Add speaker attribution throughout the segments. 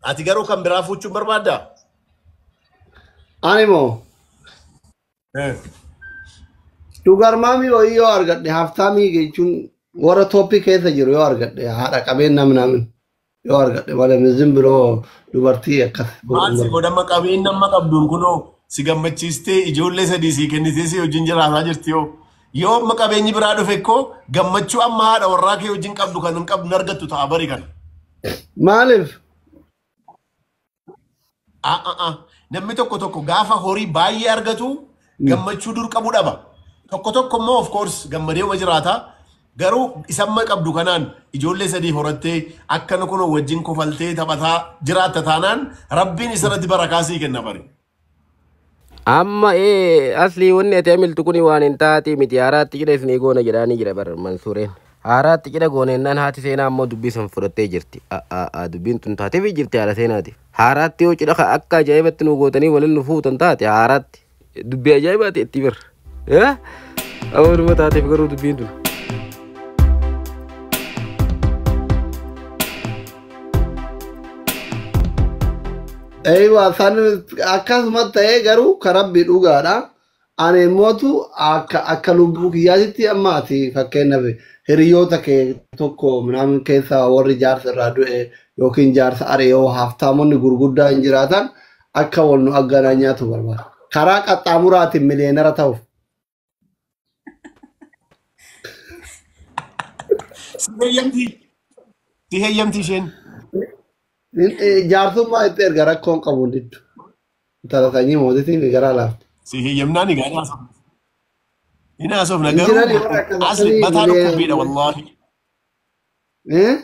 Speaker 1: Ati garuu kan biraa fuuchuun barbaaddaa? Ani
Speaker 2: moo dhugarmaamii wayii yoo argadhe haftaamii jechuun warra tooppii keessa jiru yoo argadhe haadha qabeen nam namin yoo argadhe malee mizin biroo dubartii akkas Maal si godhama
Speaker 1: qabeen nama qabduun kunoo si gammachiistee ijoollee sadii sii kennitee si wajjin jiraataa jirti yoo Yoo amma qabeenyi biraa dhufe koo gammachuu amma haadha warraa kee wajjin qabdu kan hin qabdu hin argattu ta'a bari kana. Maaliif? Ah, ah, ah. Namni tokko tokko gaafa horii baay'ee argatu gammachuu dur qabu dhaba. Tokko tokko immoo of course gammadeema jiraata. Garuu isamma qabdu kanaan ijoollee sadii horattee akkana kunoo wajjin kofaltee taphataa jiraatta taanaan rabbiin isarratti barakaa sii kenna bari.
Speaker 3: Amma ee aslii wanni ati amiltu kuni waan hin taatii miti haaraatti cidha isinii goona jedhaanii jira bar mansuureen. Haaraatti cidha goona jennaan haati seenaa ammoo dubbii san fudhattee jirti. A a a dubbiin tun taateefii jirti haadha seenaatiif. Haaraatti yoo cidha ka akka ajaa'ibatti nu gootanii waliin nu fuutan taate haaraatti dubbii ajaa'ibaati itti birra. Eh? Awanuma taateef garuu dubbiin tun.
Speaker 2: Eeyiwa san akkasumas ta'ee garuu ka rabbi dhugaadha. Ani immootu akka akka lubbuu kiyyaatitti amma ati fakkeenyaaf hiriyoota kee tokko minaamin keessaa warri jaarsa irraa du'e yookiin jaarsa ari'oo haftaamonni gurguddaa hin jiraatan akka wal nu agganaa nyaatu barbaada. Karaa qaxxaamuraatiin miliyeenara ta'uuf.
Speaker 1: Si heeyyamti. Si heeyyamti isheen. Nin- eh,
Speaker 2: Jaarsummaa itti erga rakkoon qabu diddu. Intala sanyii mootitiin garaa laafte. Si heeyyamnaan
Speaker 1: egaa hin haasofne. Hin haasofne Hin jirani garuu warra akkasii asli mataa miliyoona- dhukkubbiidha wallaahi. Eh?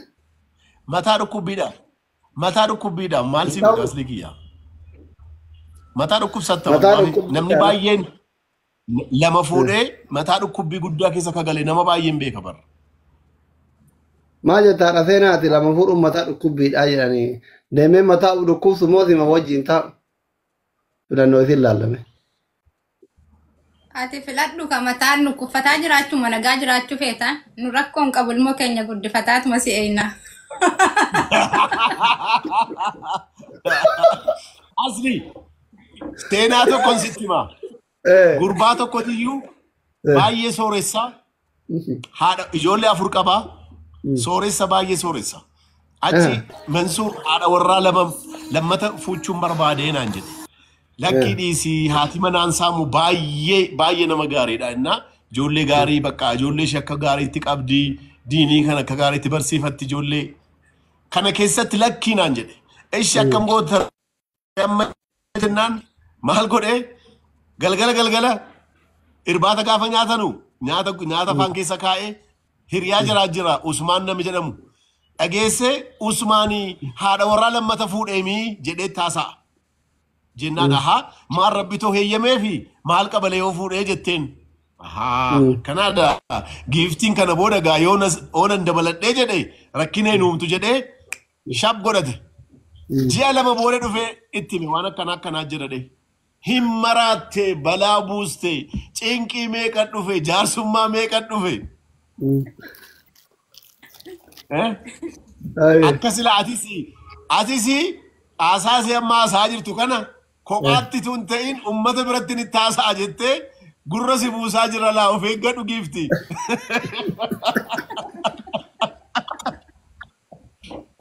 Speaker 1: Mataa dhukkubbiidha. Mataa dhukkubbiidha. Maal si godha asli kiyya? Mataa dhukkubsatta Mataa wallaahi. dhukkubbii Namni kana. baay'een lama fuudhee mataa dhukkubbii guddaa keessa ka gale nama baay'een beeka bara.
Speaker 2: Maa jettaa dhasee naati lama fuudhuun mataa dhukkubbiidhaa jedhanii deemee mataa dhukkubsu moo sima wajjin taa'u filannoo isin laallame.
Speaker 4: Ati filadhu ka mataan nu kuffataa jiraachuu ma nagaa jiraachuu feeta nu rakkoo hin qabu ilmoo keenya guddifataatuma si eeyna.
Speaker 1: Asli seenaa tokkon sitti hima. Eh, Gurbaa tokkotiyyuu eh, baay'ee sooressaa haadha ijoollee afur qaba sooressa baay'ee sooressa achi mansuur haadha warraa lama lammata fuuchuun barbaadee naan jedhe lakkii dhiisii haati manaan saamu baay'ee baay'ee nama gaariidha innaa ijoollee gaarii bakka ijoollee ishee akka gaariitti qabdi diinii kan akka gaariitti barsiifatti ijoollee kana keessatti lakkii naan jedhe ishi akkam goota amma jennaan maal godhee galgala galgala irbaata gaafa nyaatanu nyaata nyaata afaan keessa kaa'ee hiriyaa jiraa jira Usmaan nami jedhamu dhageessee Usmaanii haadha warraa lammata fuudheemii jedhee taasa'a. Jennaan ahaa maal rabbi too heeyyamee fi maal qabalee yoo fuudhee jetteen. Ahaa Mm. kanaadha giiftiin kana booda gaa yoo nas- oonan dabaladhee jedhe rakkinee nuumtu jedhee Shab godhate. Ji'a lama booda dhufee itti hime waan akkana akkanaa jira dhee. Hin maraatte balaa buuste cinqii meeqa dhufe jaarsummaa meeqa dhufe. Eh? Aye. Akka sila atis atis haasaa si amma haasaa jirtu kana kophaatti tun ta'in ummata biratti ni taasaa jettee gurra si buusaa jira laa of eeggadhu giifti.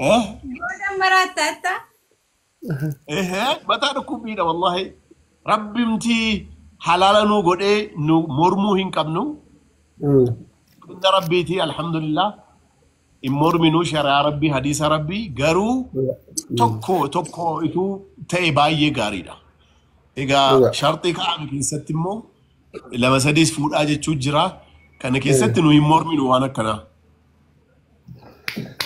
Speaker 1: Eh? Boodan maraatta atta. Ehe, mataa dhukkubbiidha wallahi. Rabbimti halaala nuu godhee nu mormuu hin qabnu. Mm. Inna rabbiiti alhamdulillah. Hin morminuu shari'aa rabbii hadiisa rabbii garuu Dhuga. Mm. tokko tokko ituu ta'e baay'ee gaariidha. Egaa Dhuga. sharxii kaa'ame keessatti immoo lama sadiis fuudhaa jechuu jira. Kana keessatti nu hin morminu waan akkanaa.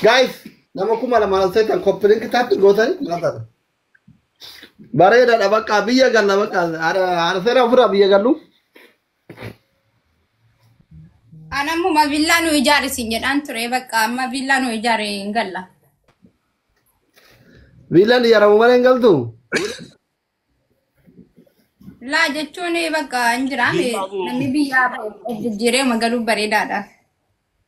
Speaker 2: Guys, nama kuma lama ol seetan copy link tappi gootan maal taata? Bareedaadha bakka biyya galla bakka arseera ofirraa biyya gallu.
Speaker 4: An ammuma villaa nu ijaari siin jedhaan ture bakka amma villaa nu ijaare hin galla.
Speaker 2: Viilaan ijaaramu malee hin galtu.
Speaker 4: Laa jechuun bakka hin jiraame namni biyyaa bahe jijjiiree magaluu bareedaadha.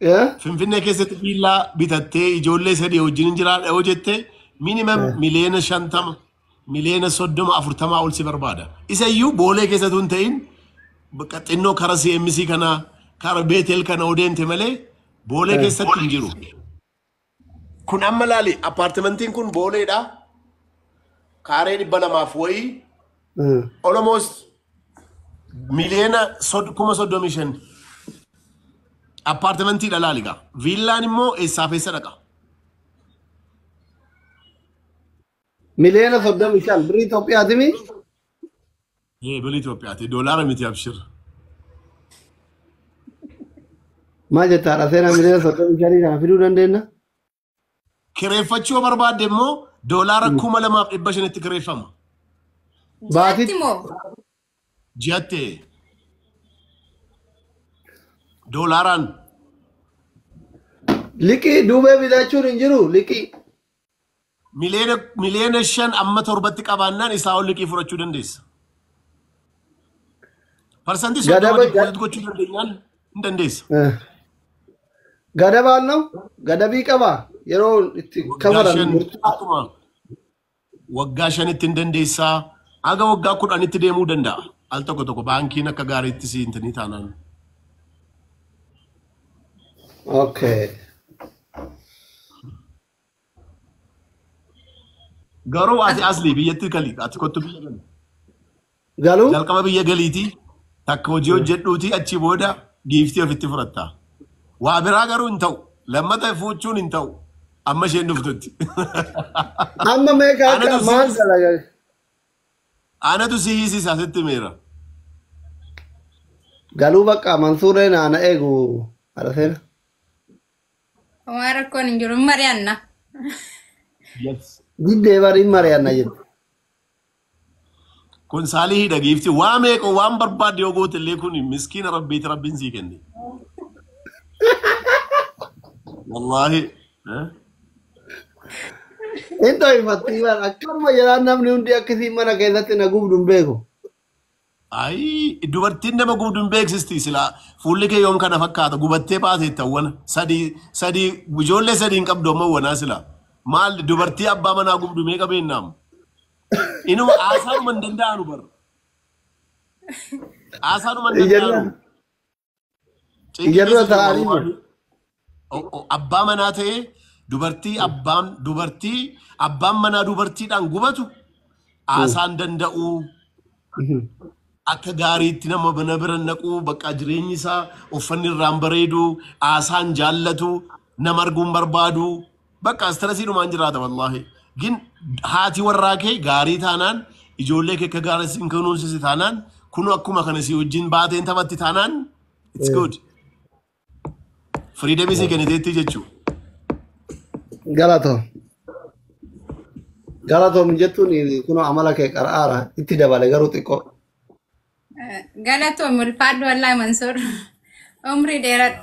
Speaker 2: Eh?
Speaker 1: Finfinnee keessatti viillaa bitattee ijoollee sadii wajjin hin jiraadha yoo jette minimum Eh. miliyoona shantama miliyoona soddoma afurtamaa ol si barbaada. Isa iyyuu boolee keessatu hin ta'in bakka xinnoo kara CMC kana kara Beetel kana odeente malee boolee Eh. keessatti hin jiru. Kun amma laali appaartimentiin kun booleedha. Kaaree dhibba lamaaf wayii Mm. almost miliyoona sod- kuma soddomii shan appaartimentiidha laali gaa. Viillaan immoo eessaaf eessa dhaqa?
Speaker 2: Miliyoona soddomii shan birrii Itoophiyaatimi.
Speaker 1: Ee birri Itoophiyaati. Doolaara miti abshir.
Speaker 2: Maal jetta haadha seenaa miliyoona soddomii shanii kana fiduu dandeenya?
Speaker 1: Kireeffachuu yoo barbaadde immoo doolaara kuma lamaaf dhibba shanitti kireeffama.
Speaker 2: Baatii- Ji'atti moo?
Speaker 1: Ji'atti doolaaraan
Speaker 2: Liqii duubee bitachuun hin jiru liqii.
Speaker 1: Miliyoona miliyoona shan amma torbatti qabaannaan isaa ol liqii fudhachuu dandeessa. Parsantii Gadaba- soddoma dippooziit gochuu dandeenyaan hin dandeessa. Eh.
Speaker 2: Gadabaan noo gadabii qabaa yeroo itti Waggaa kafalan shan murtii. akkuma
Speaker 1: waggaa shanitti hin dandeessaa haga waggaa kudhanitti deemuu danda'a. Al tokko tokko baankiin akka gaariitti si hin tanii taanaan.
Speaker 2: Okay.
Speaker 1: Garuu ati asli biyyatti gali ati kottu biyya gali. Galuu?
Speaker 2: Jalqaba biyya
Speaker 1: galiiti takka hojii hojjedhuuti achi booda giiftii ofitti fudhatta. Waa biraa garuu hin ta'u. Lammata fuuchuun hin ta'u. Amma isheen dhuftutti.
Speaker 2: Amma meeqa akka Anatu maal si- dalaga?
Speaker 1: Anatu si hiisisa sitti meera.
Speaker 2: Galuu bakka Mansuuree naana eegu haadha seena.
Speaker 4: Waan rakkoon hin jiru hin mari'anna.
Speaker 1: Yes. Diddee
Speaker 2: bari hin mari'anna jette.
Speaker 1: Kun saalihii dhageefti waa meeqa waan barbaadde yoo goote illee kun miskiina rabbiiti rabbiin sii kenne. Wallaahi. eh?
Speaker 2: Hin ta'ifatti waan akkanuma jedhaan namni hundi akkasiin mana keessatti na gubdu hin beeku.
Speaker 1: Ayii dubartiin nama gubdu hin beeksisti silaa fuulli kee yoom kana fakkaata gubattee baateetta wana sadii sadii ijoollee sadii hin qabdu amma wanaa silaa maal dubartii abbaa manaa gubdu meeqa beennaa amma inuma haasaanuma hin danda'anu bar haasaanuma hin Ija danda'anu dura. Cinqii Iyyarra
Speaker 2: keessa jiru ta'anii jiru. wawwaaduu.
Speaker 1: O- o- Abbaa manaa ta'ee dubartii abbaan dubartii abbaan manaa dubartiidhaan gubatu haasaan danda'uu akka gaariitti nama bana bira naquu bakka jireenyi isaa uffanni irraan bareedu haasaan jaallatu nama arguun barbaadu Bakka astirasii dhumaan jiraata wallaahi. Gin haati warraa kee gaarii taanaan ijoollee kee akka gaarii siin kunuunsisi taanaan kun akkuma kana si wajjin baateen taphatti taanaan it's good. Firiidamii si kenniteetti jechuudha. Galatoo.
Speaker 2: Galatoo mijettuun kun amala kee qara'aara itti dabale garuu xiqqoo. Galatoo
Speaker 4: mulfaadhu wallaahi Mansoor. Umrii dheeradhu.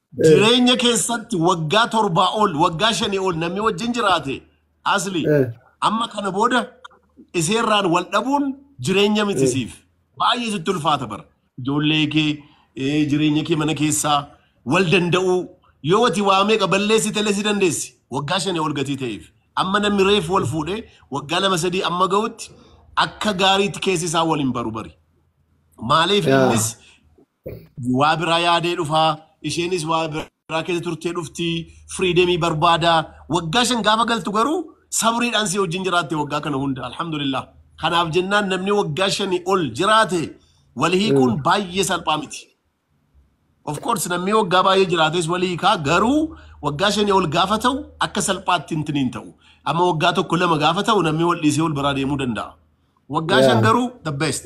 Speaker 1: Jireenya keessatti waggaa torbaa ol waggaa shanii ol namni wajjin jiraate asli Eh. amma kana booda iseerraan wal dhabuun jireenya miti siif baay'ee sitti ulfaata bara. Ijoollee kee eh, jireenya kee mana keessaa wal danda'uu yoo ati waa meeqa balleessi telee si dandeessi waggaa shanii ol gatii ta'eef amma namni reef wal fuudhee waggaa lama sadii amma ga'utti akka gaariitti keessi isaa wal hin baru bari. Maaliif Yaa. innis waa biraa yaadee dhufaa isheenis waa biraa keessa turtee dhufti firiidemii barbaada waggaa shan gaafa galtu garuu sabriidhaan si wajjin jiraatte waggaa kana hunda alhamdulillah kanaaf jennaan namni waggaa shanii ol jiraate wal hiikuun baay'ee salphaa miti. Of course namni waggaa baay'ee jiraates wal hiikaa garuu waggaa shanii ol gaafa ta'u akka salphaatti hintin hin ta'u amma waggaa tokko lama gaafa ta'u namni wal dhiisee wal biraa deemuu danda'a. Waggaa shan garuu the best.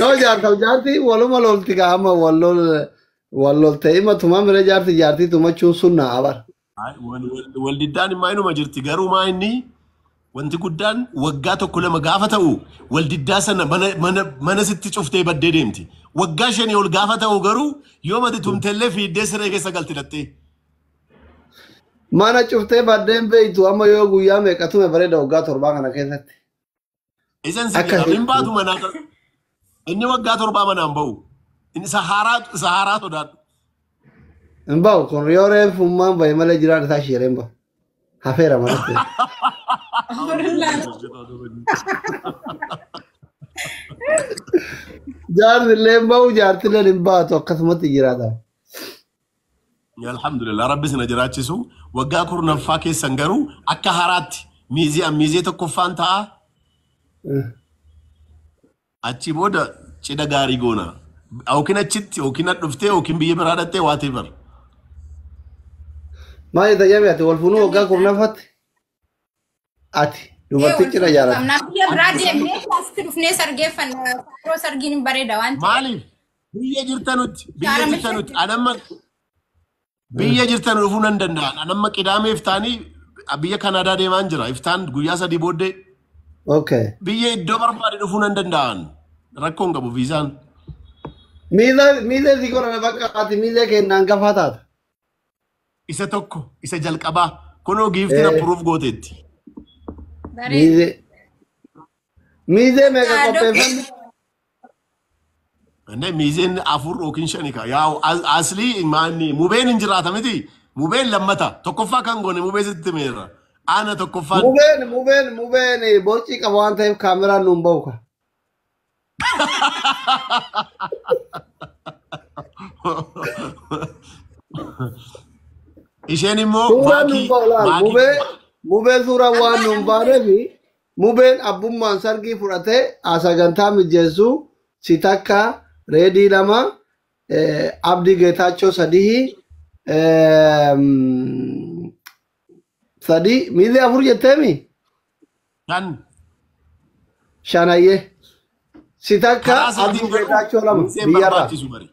Speaker 2: Yoo jaartaaf jaartii waluma lolti kaa amma wal lol wal lolte ima tuma mire jaarti jaartii tumachuun sunna abar. Ay, wal- wal- Wal
Speaker 1: diddaan immaa inuma jirti garuu maa inni wanti guddaan waggaa tokko lama gaafa ta'u wal diddaa sana mana mana mana sitti cuftee baddee deemti. Waggaa shanii ol gaafa ta'u garuu yoo mati tumtellee fiiddee siree keessa galti dhattee.
Speaker 2: Mana cuftee baddeen beektu amma yoo guyyaa meeqa tume bareeda waggaa torbaa kana keessatti. Isan
Speaker 1: si Akka- jedha. Hin baatu manaa kan. Inni waggaa torbaa manaan ba'u. Inni sahaaraa sahaaraa sodaadhu.
Speaker 2: Hin ba'u kun yoo reefu ummaan ba'e malee jiraan isaa shiireen ba'u. Hafeera malee. Jaarsi illee hin ba'u jaarsi illee hin baatu akkasumatti jiraata.
Speaker 1: Alhamdulillah rabbi sina jiraachisu waggaa kurnaffaa keessan garuu akka haraatti miiziyaan miizee tokkoffaan ta'a achi booda cidha gaarii goona yookiin achitti yookiin dhuftee yookiin biyya biraa dhattee whatever
Speaker 2: Maal itti jabee ati wal fuunuu waggaa kurnaffaatti? Ati dubartii cina jaalatu. Namni biyya biraa deemnee
Speaker 4: asitti dhufnee sargeeffanna. Yeroo sargiin hin bareeda waan ta'eef. Maaliif? Biyya
Speaker 1: jirtanutti, biyya Gaara jirtanutti. Ani amma biyya jirtan dhufuu nan danda'a. Ani amma qidaamee iftaanii biyya Kanaadaa deemaan jira. Iftaan guyyaa sadii booddee Okay.
Speaker 2: biyya iddoo
Speaker 1: barbaade dhufuu nan danda'an. Rakkoo hin qabu viizaan. Miila miila
Speaker 2: si godhana bakka ati miila kennaan gafaa taata.
Speaker 1: Isa tokko, isa jalqabaa. Kunoo giiftiin Eh. approve gooteetti. Bareeda. Miizee.
Speaker 2: Miizee meeqa Yaa, qopheeffanne?
Speaker 1: Inni miizeen afur yookiin shani kaa. Yaa as- aslii maanni mubeen hin jiraata miti. Mubeen lammata. Tokkoffaa kan goone mubee sitti meerra. Aana tokkoffaan. Mubeen, mubeen, mubeen
Speaker 2: boocii qaba waan ta'eef kaameraan nuun bahu ka.
Speaker 1: Isheen immoo Suuraan maakii nuuf olaal maakii mubee
Speaker 2: mubee suuraan waan Abbaa nuuf dha mubee. baaneefi mubeen abbummaan sargii fudhatee sagantaa mijeessu si takka reedii lama eh, abdii geetaachoo sadihii ehm, sadii miilli afur jetteemi Shan. shanayyee si takka Karaa seetiin abdii garuu geetaachoo lama miizeen biyyarraa barbaachisu bari.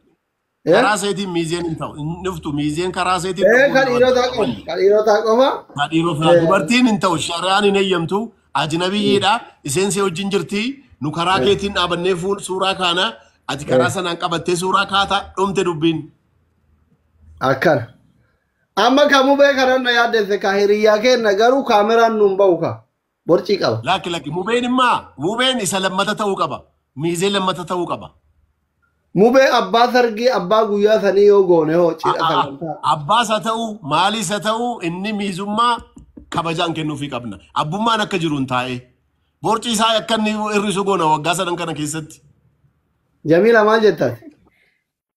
Speaker 2: Eh?
Speaker 1: Karaa seetiin miizeen hin ta'u. Hin dhuftu miizeen karaa seetiin Eh, dhufuu kan hin dhiirotaa barbaadu.
Speaker 2: qofa kan dhiirotaa qofa Kan dhiirotaa Eh.
Speaker 1: dubartiin hin ta'u. Shari'aan hin eeyyamtu. Ajnabiyyiidha. Isheen si wajjin jirti. Nu karaa keetiin dhaabannee fuul suuraa kaana. Ati karaa sanaan qabattee suuraa kaata dhumte dubbiin.
Speaker 2: akkana Amma ka mubee kanan na yaaddesse ka hiriyyaa keenna garuu kaameraan nuun ba'u ka borcii qaba. Lakki lakki mubeen immaa
Speaker 1: mubeen isa lammata ta'uu qaba. Miizee lammata ta'uu qaba. Mubee
Speaker 2: abbaa sargii abbaa guyyaa sanii yoo goone hoo A- cidha a- a- sagantaa. Abbaas haa ta'u
Speaker 1: maaliis haa ta'u inni miizummaa kabajaan kennuufii qabna. Abbummaan akka jiruun taa'ee. Borci isaa akka inni hir'isu goona waggaa sadan kana keessatti. Jamiila
Speaker 2: maal jettan?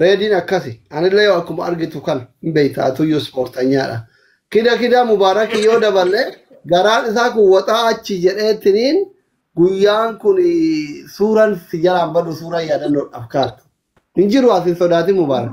Speaker 2: Reediin akkasi. Anillee yoo akkuma argitu kana hin beekta atuyyuu ispoortanyaadha. Kida kida mubaarakii yoo daballe garaan isaa kun waxaa achi jedheettiniin guyyaan kun suuraan si jalaan badu suuraa yaadannoodhaaf kaartu. Hin jiru as hin sodaatin mubaarak.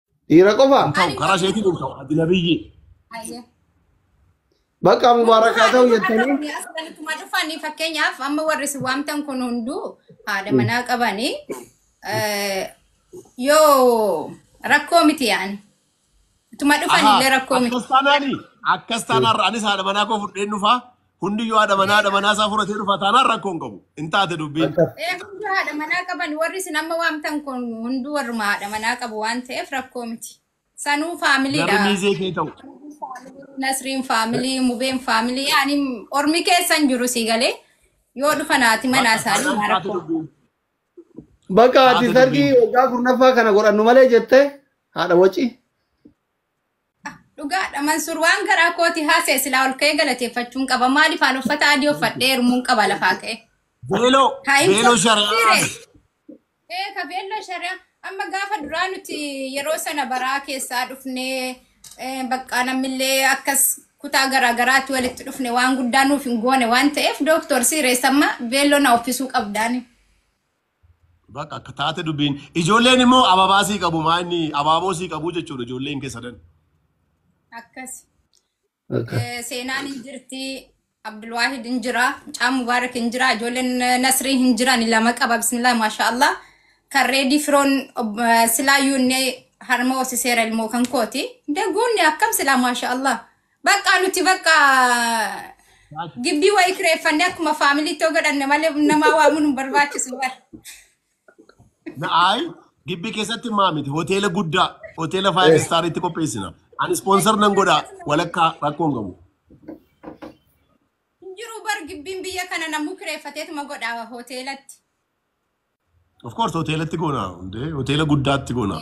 Speaker 2: Dhiira qofa. Hin ta'u karaa isheetiin hin ta'u
Speaker 1: adila biyyi. Ayyee.
Speaker 2: Bakka mubaarakaa ta'u jettanii. Akkuma dhufanii
Speaker 4: fakkeenyaaf amma warri si waamtan kun hunduu haadha manaa qabanii eh, yoo rakkoo miti yaani. Utuma dhufan illee rakkoo miti. Akkas taanaani akkas taanaarra
Speaker 1: anis haadha manaa koo fudheen dhufaa Hundiyyuu haadha manaa haadha manaa isaa fudhatee dhufa taanaan rakkoo hin qabu. Hin taate dubbiin. Akka Ee hundi haadha manaa
Speaker 4: qaban warri isin amma waamtan kun hunduu warruma haadha manaa qabu waan ta'eef rakkoo miti. Sanuu Garri faamiliidha. miizee kee ta'u.
Speaker 1: Nasriin
Speaker 4: faamilii, Mubeen faamilii, ani ormi keessa hin jiru sii galee yoo dhufa naati manaa Bakka isaanii taanaan maa taate rakkoo. dubbiin.
Speaker 2: bakka ati Taate sargii dubbiin. waggaa kurnaffaa kana godhannu malee jette haadha waci.
Speaker 4: Dhugaadha Mansuur waan garaa kooti haasa'e silaa ol ka'ee galateeffachuun qaba. Maaliif aan uffata adii uffadhee hirmuun qaba lafaa ka'ee. Beeloo Haa hin
Speaker 1: beeloo fudhatu shari'aa dhiire. Ee
Speaker 4: ka beelloo shari'aa amma gaafa duraa nuti yeroo sana baraa keessaa dhufnee eh, bakka namillee akkas kutaa garaa garaatti walitti dhufne waan guddaa nuuf hin goone waan ta'eef dooktor siireessamma beelloo na uffisuu qabdaani.
Speaker 1: Bakka akka taate dubbiin. Ijoolleen immoo ababaa sii qabu maa inni abaaboo sii qabu jechuudha ijoolleen kee sadan.
Speaker 4: Akkas. Bakka. Eh, Seenaan hin jirti. Abdulwaahid hin jira. Caan Mubaarak hin jira. Ijoolleen eh, Nasrii hin jiran. Lama qaba. Bismillah maashaa Allah. Kan reedii firoon ob- eh, silaa yuunne harma hoosiseera ilmoo kan kooti. Daguunni akkam silaa maashaa Allah. Baqqaa nuti bakka Baas- gibbii wayii kireeffannee akkuma faamiliitti yoo godhanne malee namaa waamuun hin barbaachisu bara. Na
Speaker 1: ayi gibbii keessatti maa miti hoteela guddaa hoteela five Eh. star itti qopheessina. Ani ispoonsar nan godhaa walakkaa rakkoon qabu. Hin
Speaker 4: jiru bar gibbiin biyya kana namuu kireeffateetuma godha hoteelatti.
Speaker 1: Of course hoteelatti goona hundee hoteela guddaatti goona.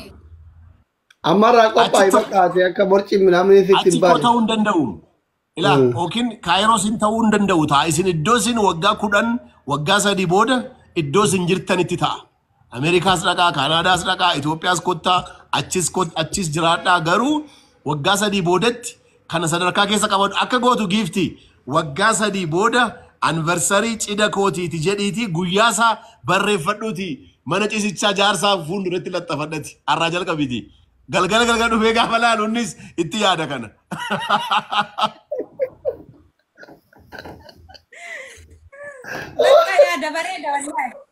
Speaker 1: Amma
Speaker 2: irraa qophaa'e Achitti- fakkaate akka borci namni sitti Achi hin koo baane. ta'uu hin danda'u.
Speaker 1: Ilaa Mm. yookiin kaayiroo sin ta'uu hin danda'u ta'a. Isin iddoo isin waggaa kudhan waggaa sadii booda iddoo isin jirtanitti ta'a. Ameerikaas dhaqaa, Kaanaadaas dhaqaa, Itoophiyaas kottaa, achis kot- achis jiraadhaa garuu waggaa sadii boodatti Kana sadarkaa keessa qabadhu. Akka gootu giiftii waggaa sadii booda anniversarii cida kootiiti jedhiitii guyyaa isaa barreeffadhuuti mana cisichaa jaarsaa fuulduratti laxxafadhati. Har'aa jalqabiti. Galgala galgala dhufee gaafa laalu innis itti yaada kana.
Speaker 4: Lakkaa yaada bareeda wallahi.